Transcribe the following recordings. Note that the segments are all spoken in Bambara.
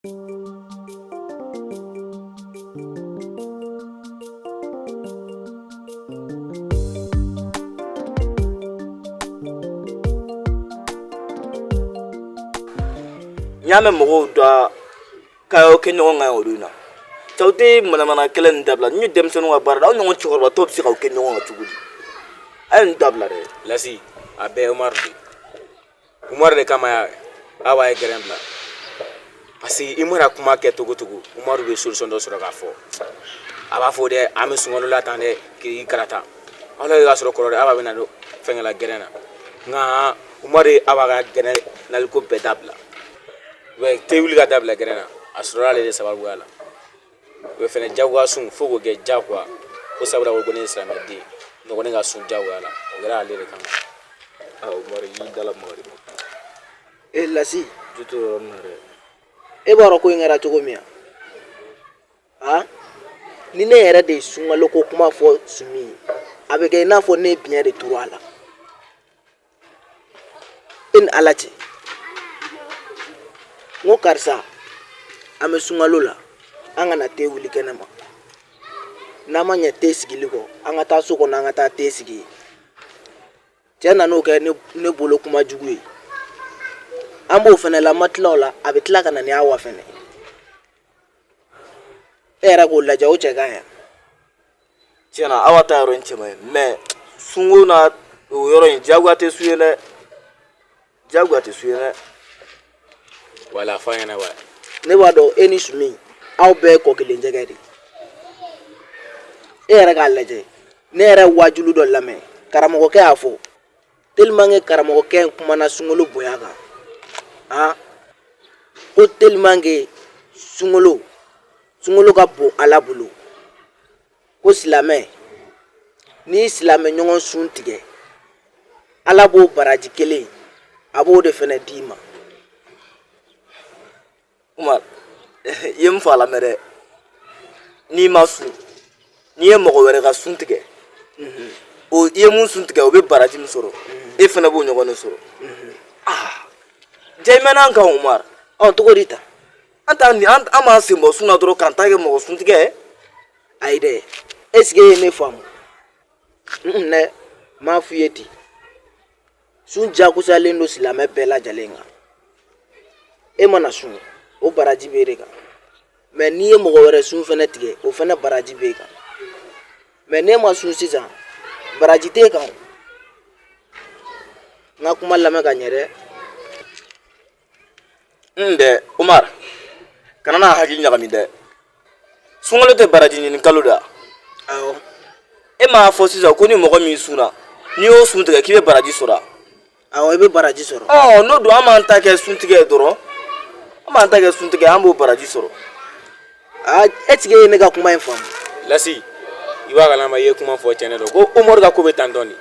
n y'a mɛn mɔgɔw da k'aw y'aw kɛ ɲɔgɔn kan o don in na cɛ aw tɛ manamana kɛlɛ nin dabila n'u ye denmisɛnninw ka baara la aw ɲɔgɔn cɛkɔrɔba tɔw bɛ se k'aw kɛ ɲɔgɔn kan cogo di a ye nin dabila dɛ lasi a bɛɛ ye umaru de ye Umaru de kama y'a Awa ye gɛrɛn bila parce que i mana kuma kɛ cogo cogo Umaru bɛ solution dɔ sɔrɔ k'a fɔ a b'a fɔ dɛ an bɛ sunkalo la tan dɛ k'i karata aw la y'a sɔrɔ kɔrɔ dɛ Awa bɛna don fɛngɛ la gɛrɛn na nka Umaru ye Awa ka gɛrɛn naliko bɛɛ dabila i b'a ye te wuli ka dabila gɛrɛn na a sɔrɔla ale de sababuya la o ye fɛnɛ jagoya sun fo k'o kɛ jagoya ko sabula ko ne ye silamɛden ne ko ne ka sun jagoya la o kɛra ale de kama aa umaru y'i dala mɔgɔ ma e eh, lasi du to yɔrɔ min na dɛ e b'a dɔn ko in kɛra cogo min a ni ne yɛrɛ de ye sunkalo ko kuma fɔ sumi ye a bɛ kɛ i n'a fɔ ne ye biɲɛ de turu a la e ni ala cɛ n ko karisa an bɛ sunkalo la an kana te wuli kɛnɛ ma n'an ma ɲɛ te sigili kɔ an ka taa so kɔnɔ an ka taa te sigi yen cɛ nan'o kɛ ne bolo kuma jugu ye an b'o fɛnɛ la an ma tila o la a bɛ tila ka na ni awa fɛnɛ e yɛrɛ k'o lajɛ o cɛ ka ɲi tiɲɛ na Awa ta yɔrɔ in cɛ man ɲi mais sunko na o yɔrɔ in diyagoya tɛ sun ye dɛ diyagoya tɛ sun ye dɛ wala fɔ an ɲɛna wa ne b'a dɔn e ni sumi aw bɛɛ ye kɔ kelen jɛgɛ de ye. e yɛrɛ k'a lajɛ ne yɛrɛ ye waajulu dɔ lamɛn karamɔgɔkɛ y'a fɔ tellement que karamɔgɔkɛ in kumana sunkalo bonya kan a ko tellement que sunkalo sunkalo ka bon ala bolo ko silamɛ n'i y'i silamɛ ɲɔgɔn sun tigɛ ala b'o baraji kelen a b'o de fɛnɛ d'i ma Umar i ye n fa lamɛn dɛ n'i ma sun n'i ye mɔgɔ wɛrɛ ka sun tigɛ o i ye min sun tigɛ o bɛ baraji min sɔrɔ e fɛnɛ b'o ɲɔgɔn de sɔrɔ ah jaa i mɛnna an kan Umar ɔ cogo di ta an t'an ni an an b'an sen bɔ sun na dɔrɔn k'an ta kɛ mɔgɔ sun tigɛ ayi dɛ est ce que e ye ne faamu ne m'a f'i ye ten sun jagosalen don silamɛ bɛɛ lajɛlen kan e mana sun o baraji bɛ e de kan mais n'i ye mɔgɔ wɛrɛ sun fɛnɛ tigɛ o fɛnɛ baraji bɛ e kan mais n'e ma sun sisan baraji t'e kan n ka kuma lamɛn ka ɲɛ dɛ n dɛ umar kana n'a hakili ɲagami dɛ sunkalo tɛ baraji ɲini kalo da awɔ e m'a fɔ sisan ko ni mɔgɔ min sunna n'i y'o sun tigɛ k'i bɛ baraji sɔrɔ awɔ i bɛ baraji sɔrɔ ɔ n'o don an b'an ta kɛ suntigɛ dɔrɔn an b'an ta kɛ suntigɛ an b'o baraji sɔrɔ Ah, est ce que i ye ne ka kuma in faamu lasi i b'a kalama i ye kuma fɔ cɛnɛ dɔ ko umar ka ko bɛ tan dɔɔnin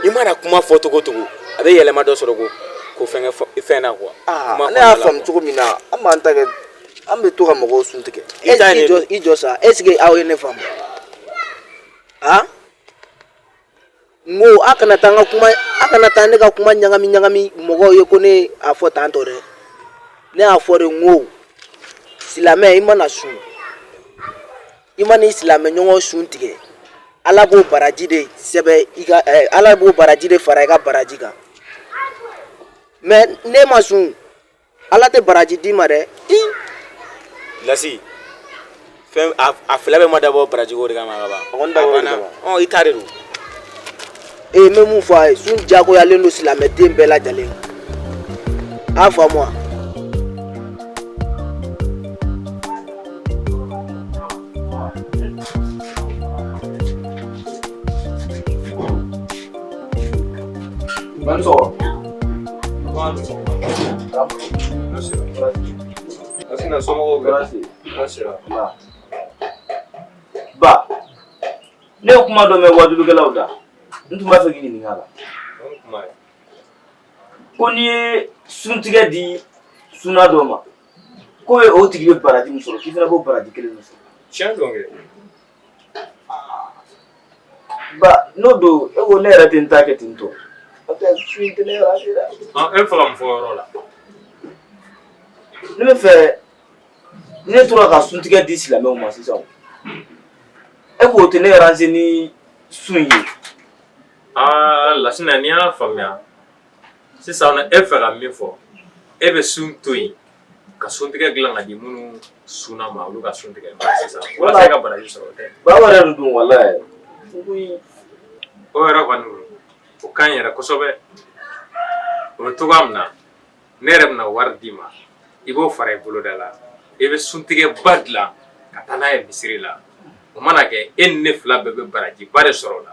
i mana kuma fɔ cogo o cogo a bɛ yɛlɛma dɔ sɔrɔ ko ko fɛnkɛ fɛn na kuwa ah, ne y'a faamu cogo min na an b'an ta kɛ an bɛ to ka mɔgɔw sun tigɛ i jɔ sa est ce que aw ye ne faamu a ah? N ko a kana taa ka kuma a kana taa ne ka kuma ɲagami ɲagami mɔgɔw ye ko ne y'a fɔ tan tɔ dɛ ne y'a fɔ de ko silamɛ i mana sun i man'i silamɛ ɲɔgɔn sun tigɛ ala b'o baraji de sɛbɛn i ka eh, ala b'o baraji de fara i ka baraji kan mais n'e ma sun ala tɛ baraji d'i ma dɛ lasi fɛn a fila bɛɛ ma dabɔ barajiko de kama ka ban A kɔni dabɔra o de banna. kama. Ɔ, i ta de don ee n bɛ mun fɔ a ye sun diyagoyalen don silamɛden bɛɛ lajɛlen kan. a faamu wa Ba ne ye kuma dɔ mɛn waajulikɛlaw da n tun b'a fɛ k'i ɲininka la ko n'i ye suntigɛ di sunna dɔ ma k'o ye o tigi bɛ baraji min sɔrɔ k'i fana b'o baraji kelen min sɔrɔ tiɲɛ don kɛ Ba n'o don e ko ne yɛrɛ tɛ n ta kɛ ten tɔ e faga fɔ yɔrɔ la ne b'a fɛ ne tora ka suntigɛ di silamɛw ma sisan e k'o tɛ ne arranger ni sun ye aa lasina n'i y'a faamuya sisan e b'a fɛ ka min fɔ e bɛ sun to yen ka suntigɛ dilan k'a di minnu sunna ma olu ka sun tigɛ sisan walasa e ka baraji sɔrɔ o tɛ baba yɛrɛ de don walayi o yɛrɛ kɔni o ka ɲi yɛrɛ kosɛbɛ o bɛ cogoya min na ne yɛrɛ bɛna wari d'i ma i b'o fara i boloda la i bɛ suntigɛba dilan ka taa n'a ye misiri la o mana kɛ e ni ne fila bɛɛ bɛ barajiba de sɔrɔ o la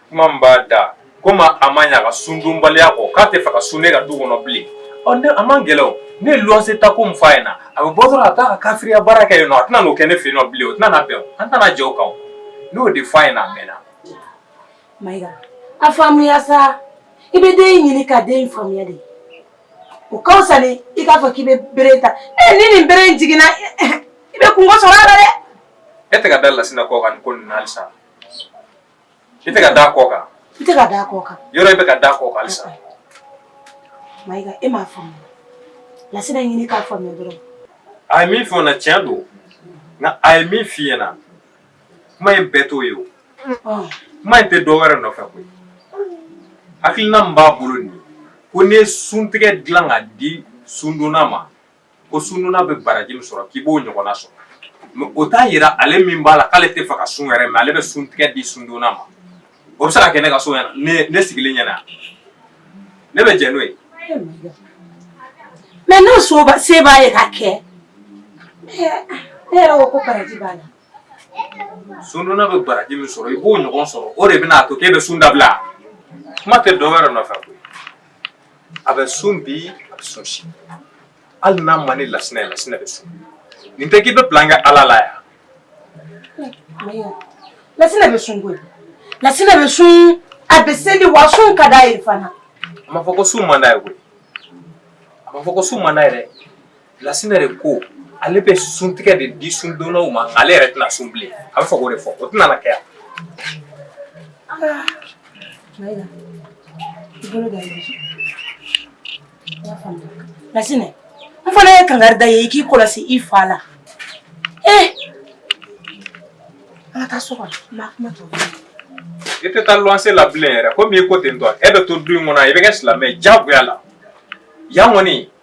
kuma min b'a da komi a ma ɲa a ka sundonbaliya kɔ k'a tɛ fɛ ka sun ne ka du kɔnɔ bilen ɔ ne a man gɛlɛn o ne ye luwanse ta ko min fɔ a ɲɛna a bɛ bɔ dɔrɔn a taa ka kafiriya baara kɛ yen nɔ a tɛna n'o kɛ ne fɛ yen nɔ bilen o tɛna na bɛn o an tɛna jɛ o kan o ne y'o de fɔ a ɲɛna a mɛnna. mayiga a faamuya sa i bɛ den in ɲini ka den in faamuya de o ka fisa ni i k'a fɔ k'i bɛ bere ta ɛ ni nin bere in jiginna i bɛ kunko sɔrɔ a la dɛ. e tɛ ka da lasina kɔ kan nin ko nin na halisa. I tɛ ka da kɔ kan i tɛ ka da kɔ kan yɔrɔ i bɛ ka da kɔ kan halisa Mayiga e m'a faamu Lasina ɲini k'a faamuya dɔrɔn a ye min fɔ n na tiɲɛ don nka a ye min f'i ɲɛna kuma in bɛɛ t'o ye o kuma in tɛ dɔ wɛrɛ nɔfɛ koyi hakilina min b'a bolo nin ye ko n'i ye suntigɛ dilan ka di sundonna ma ko sundonna bɛ baraji min sɔrɔ k'i b'o ɲɔgɔnna sɔrɔ mɛ o t'a yira ale min b'a la k'ale tɛ fɛ ka sun yɛrɛ mɛ ale bɛ suntigɛ di sundonna ma o bɛ se ka kɛ ne ka so ɲɛna ne ne sigilen ɲɛna ne bɛ jɛ n'o ye mɛ n'o se b'a ye ka kɛ ne yɛrɛ ko ko baraji b'a la sundonna bɛ baraji min sɔrɔ i b'o ɲɔgɔn sɔrɔ o de bɛna a to k'e bɛ sun dabila kuma tɛ dɔ wɛrɛ nɔfɛ koyi a bɛ sun bi a bɛ sun sini hali n'a man di lasina ye lasina bɛ sun nin tɛ k'i bɛ plan kɛ ala la yan lasina bɛ sun koyi lasina bɛ sun a bɛ seli wa sun ka d'a ye fana a ma fɔ ko sun man d'a ye koyi a ma fɔ ko sun man d'a ye dɛ Lasina de ko ale bɛ suntigɛ de di sundonnaw ma ale yɛrɛ tɛna sun bilen a bɛ fɛ k'o de fɔ o tɛna na kɛ yan Mayiga i bolo da i y'a faamuya Lasina n fana ye kangari da i ye i k'i kɔlɔsi i fa la ee an ka taa so kɔnɔ n b'a kuma tɔ i tɛ taa luwanse la bilen yɛrɛ komi i ko ten tɔ e bɛ to du in kɔnɔ i bɛ kɛ silamɛ ye diyagoya la yan kɔni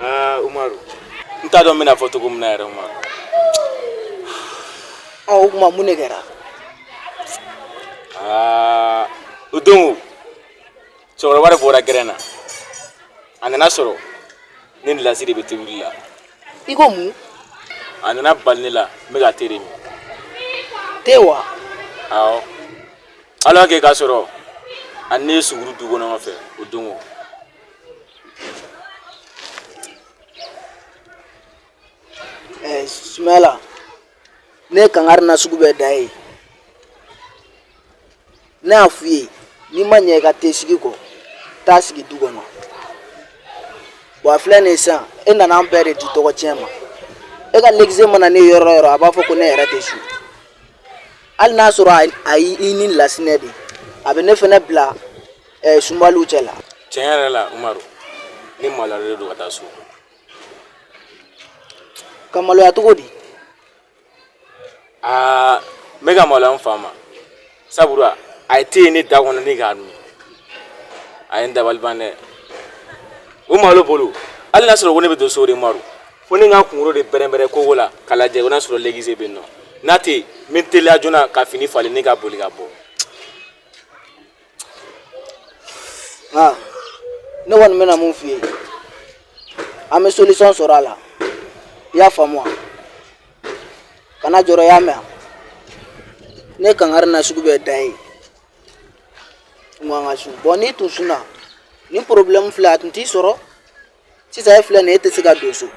Ah, Umaru. N t'a dɔn n bɛna fɔ cogo min na yɛrɛ Umaru. Ɔ o tuma mun de kɛra? Aa o don cɛkɔrɔba de bɔra gɛrɛn na a nana sɔrɔ ne ni Lasi de bɛ tobili la. I ko mun? A nana bali ne la n bɛ ka te de min. Te wa? Awɔ. ala kɛ k'a sɔrɔ a ni ne ye suguri dun ɲɔgɔn fɛ o don o eh, sumala ne ye kangari nasugu bɛɛ da i ye ne y'a f'i ye n'i ma ɲɛ i ka te sigi kɔ taa sigi du kɔnɔ a filɛ nin sisan e nana an bɛɛ de di tɔgɔtiɲɛ ma e ka legise mana ne ye yɔrɔ o yɔrɔ a b'a fɔ ko ne yɛrɛ tɛ su hali n'a sɔrɔ a y'i ni lasinɛ de a bɛ ne fana bila ɛɛ sunbaliw cɛ la tiɲɛ yɛrɛ la umaru ne maloyalen don ka taa so ka maloya cogo di aa n bɛ ka maloya n fa ma sabula a ye te ye ne da kɔnɔ ne k'a min a ye n dabali ban dɛ o malo bolo hali n'a sɔrɔ ko ne bɛ don so de umaru ko ne ka kunkolo de bɛrɛbɛrɛ kogo la k'a lajɛ ko n'a sɔrɔ lɛgise bɛ yen nɔ n'a tɛ yen n bɛ teliya joona ka fini falen ne ka boli ka bɔ. nka ne kɔni bɛna mun f'i ye an bɛ solution sɔrɔ a la i y'a faamu wa kana jɔrɔ i y'a mɛn ne kankari na sugu bɛɛ da i ye tun ka sun bon n'i tun sunna nin problème filɛ a tun t'i sɔrɔ sisan e filɛ nin ye e tɛ se ka don so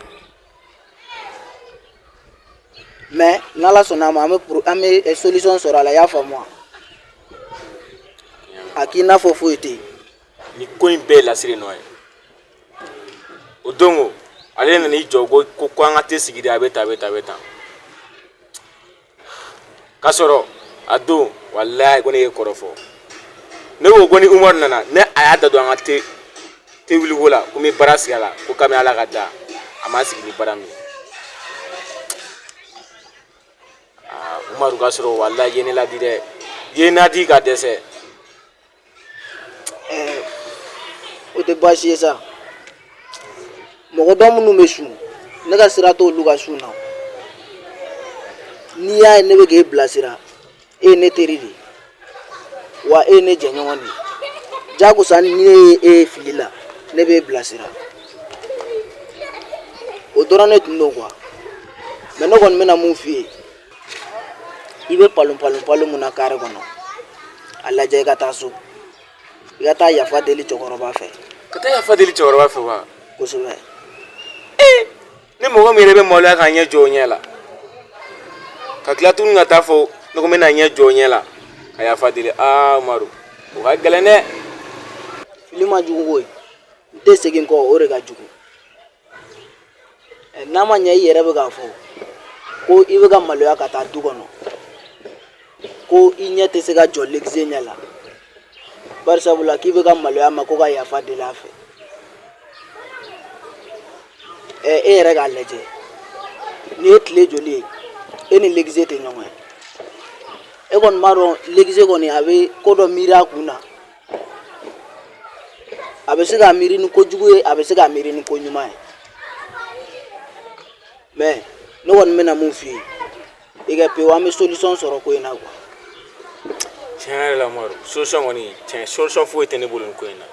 mais n'ala sɔnna a ma an bɛ an bɛ solution sɔrɔ a la i y'a faamu wa a k'i n'a fɔ foyi tɛ yen nin ko in bɛɛ lasinɛ nɔ ye o don ko ale nana i jɔ ko ko an ka te sigi de a bɛ tan a bɛ tan a bɛ tan ka sɔrɔ a don walayi ko ne ye kɔrɔ fɔ ne ko ko ni umaru nana ne a y'a da don an ka te wuliko la ko n bɛ baara sigi a la ko kabini ala k'a da a ma sigi ni baara min ye umaru ka sɔrɔ walayi ye ne ladi dɛ ye n ladi ka dɛsɛ o tɛ baasi ye sa mɔgɔ dɔ minnu bɛ sun ne ka sira t'olu ka sun na n'i y'a ye ne bɛ k'e bilasira e ye ne teri de ye wa e ye ne jɛɲɔgɔn de ye jagoya ni ne ye e ye fili la ne b'e bilasira o dɔrɔn ne tun don quoi mais ne kɔni bɛna mun f'i ye i bɛ palon palon palon mun na kare kɔnɔ a lajɛ i ka taa so i ka taa yafa deli cɛkɔrɔba fɛ ka taa yafa deli cɛkɔrɔba fɛ wa kosɛbɛ ni mɔgɔ min yɛrɛ bɛ maloya k'a ɲɛ jɔ o ɲɛ la ka tila tuguni ka t'a fɔ ne ko n bɛna ɲɛ jɔ o ɲɛ la ka yafa deli umaru o ka gɛlɛn dɛ fili ma jugu koyi n tɛ segin kɔ o de ka jugu n'a ma ɲɛ i yɛrɛ bɛ k'a fɔ ko i bɛ ka maloya ka taa du kɔnɔ ko i ɲɛ tɛ se ka jɔ legese ɲɛ la bari sabula k'i bɛ ka maloya ma ko ka yafa deli a fɛ ɛ e yɛrɛ k'a lajɛ nin ye tile joli ye e ni legese tɛ ɲɔgɔn ye e kɔni b'a dɔn legese kɔni a bɛ ko dɔ miiri a kun na a bɛ se ka miiri ni ko jugu ye a bɛ se ka miiri ni ko ɲuman ye mɛ ne kɔni bɛna mun f'i ye i ka pewu an bɛ solisɔn sɔrɔ ko in na kuwa tiɲɛ yɛrɛ la umaru solisɔn kɔni tiɲɛ solisɔn foyi tɛ ne bolo nin ko in na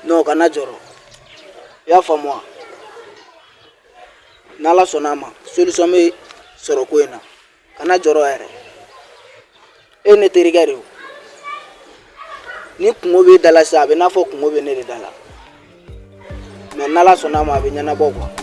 nɔn kana jɔrɔ i y'a faamu wa n'ala sɔnna a ma solisɔn bɛ sɔrɔ ko in na kana jɔrɔ yɛrɛ e ne terikɛ de don ni kunko b'e da la sisan a bɛ n'a fɔ kunko bɛ ne de da la mɛ n'ala sɔnna a ma a bɛ ɲɛnabɔ kuwa